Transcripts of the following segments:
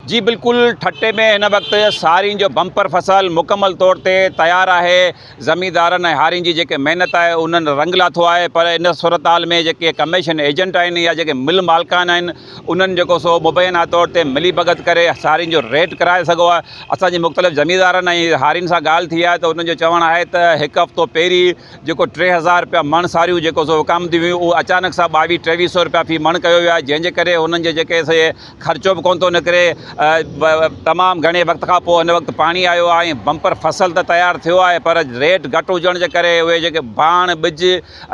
جي بلڪل ٺٽي ۾ هن وقت سارين جو بمپر فصل مڪمل طور تي تيار آهي زميندارن ۽ هارين جي جيڪي محنت آهي انهن رنگ لاٿو آهي پر ان صورتحال ۾ جيڪي ڪميشن ايجنٽ آهن يا جيڪي مل مالڪان آهن انهن جيڪو سو مبينا طور تي ملي ڀڳت ڪري سارين جو ريٽ ڪرائي سگهو آهي اسان جي مختلف زميندارن ۽ هارين سان ڳالهه ٿي آهي ته انهن جو چوڻ آهي ته هڪ هفتو پهرين جيڪو ٽي هزار رپيا مڻ ساريون جيڪو سو وڪامنديون هيون اهو اچانڪ سان ٻاويهه ٽيويهه سئو رپيا في مڻ ڪيو ويو آهي جنهن جي ڪري انهن جي جيڪي سي خرچو به ڪونه ٿو نڪري تمام گهڻي وقت کان پوء هن وقت پاڻي آيو آهي ۽ بمپر فصل ته تيار ٿيو آهي پر ريٽ گهٽ هجڻ جي ڪري اهي جيڪي ڀاڻ ٻج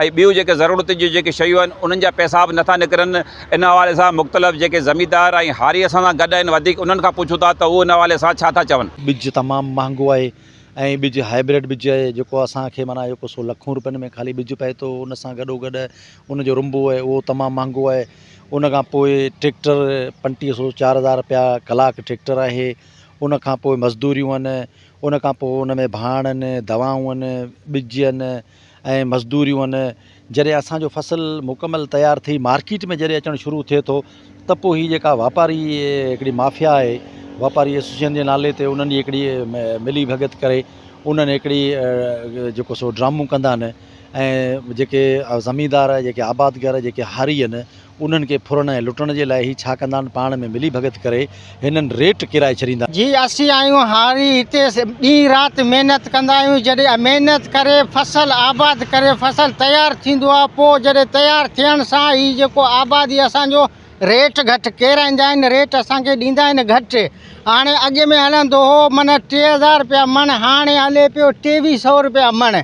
۽ ٻيون جيڪي ضرورت جون جيڪي شيون آهن انهن جا پئسا به نٿا نڪرن ان حوالي سان مختلف جيڪي زميندار ۽ هاري اسان سان گڏ آهن وڌيڪ انهن کان پڇون ٿا ته هو ان حوالي سان ڇا ٿا چون. ٻج تمام مهانگو آهي ۽ ٻج هائبرڊ ٻج آهي جيڪو اسان کي معنيٰ جيڪو سو لکون روپين ۾ خالي ٻج پئي ٿو ان سان گڏو گڏ ان جو رنبو آهي اهو تمام مهانگو آهي ان کان پوء ٽريڪٽر پنٽيهه سو چار هزار رپيا ڪلاڪ ٽريڪٽر آهي ان کان پوء مزدوريون آهن ان کان پوء ان ۾ ڀاڻ آهن دوائون آهن ٻج آهن ۽ مزدوريون آهن جڏهن اسانجو فصل مڪمل تيار ٿي مارڪيٽ ۾ جڏهن اچڻ شروع ٿئي ٿو ته پوء هي جيڪا واپاري هڪڙي مافيا آهي واپاري ايسوسيئن جي نالي تي انهن جي هڪڙي ملي ڀڳت ڪري انهن هڪڙي جيڪو سو ڊرامون ڪندا آهن ۽ جيڪي زميندار جيڪي آبادگار جيڪي هاري آهن انهن کي ڦرڻ ۽ لٽڻ جي لاء هي ڇا ڪندا آهن پاڻ ۾ ملي ڀڳت ڪري هنن ريٽ ڪيرائي ڇڏيندا آهن. جي اسين آهيون هاري هتي ڏينهن رات محنت ڪندا آهيون جڏهن محنت ڪري فصل آباد ڪري فصل تيار ٿيندو آهي پوء جڏهن تيار ٿيڻ سان هي جيڪو آبادي اسان جو ريٽ گهٽ ڪيرائيندا آهن ريٽ اسان کي ڏيندا آهن گهٽ هاڻي اڳ ۾ هلندو هو معنيٰ ٽي هزار رپيا مڻ هاڻي هلي پيو ٽيويهه سئو رپيا مڻ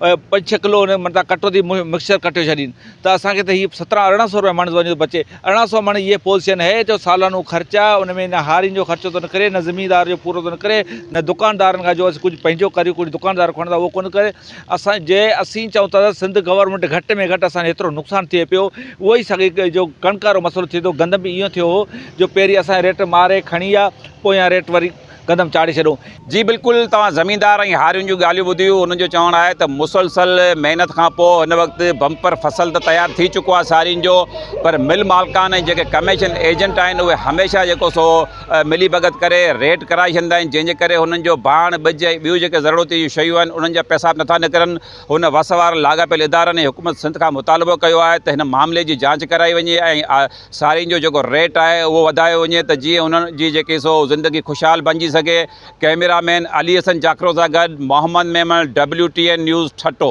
پنج ڇهه ڪلو ان متان ڪٽو ٿي مڪسچر ڪٽيو ڇڏين ته اسانکي ته هي سترهن ارڙهن سو روپيه مڻ ٿو وڃي بچي ارڙهن سو مڻ هي پوزيشن هي جو سالانو خرچ آ ان ۾ نه هارين جو خرچو ٿو نڪري نه زميندار جو پورو ٿو نڪري نه دڪاندارن کان جو اسين ڪجهه پنهنجو ڪريون ڪجهه دڪاندار کان کڻندا اهو ڪونه ڪري اسان جي اسين چئون ٿا ته سنڌ گورنمينٽ گهٽ ۾ گهٽ اسان هيترو نقصان ٿئي پيو اهو ئي ساڳي جو ڪڻڪ وارو مسئلو ٿي ٿو گندم به ايئن ٿيو هو جو پهرين اسان ريٽ ماري کڻي آ پويان ريٽ وري قدم چاڙهي ڇڏو. جي بلڪل توهان زميندار ۽ هارين جون ڳالهيون ٻڌيون انهن جو چوڻ آهي ته مسلسل محنت کان پوء هن وقت بمپر فصل ته تيار ٿي چڪو آهي سارين جو پر مل مالڪان ۽ جيڪي ڪميشن ايجنٽ آهن اهي هميشه جيڪو سو ملي ڀڳت ڪري ريٽ ڪرائي ڇڏيندا آهن جنهن جي ڪري هنن جو ڀاڻ ٻج ۽ ٻيون جيڪي ضرورتي جون شيون آهن انهن جا پيسا به نٿا نڪرن هن وس وارن لاڳاپيل ادارن ۽ حڪومت سنڌ کان مطالبو ڪيو آهي ته هن معاملي جي جانچ ڪرائي وڃي ۽ سارين جو جيڪو ريٽ آهي اهو وڌايو وڃي ته جيئن انهن جي جيڪي سو زندگي خوشحال بنجي سگهي، ڪئميرا مين علي حسن جاکرو سان گڏ Muhammad Memon, W T N news, Thatta.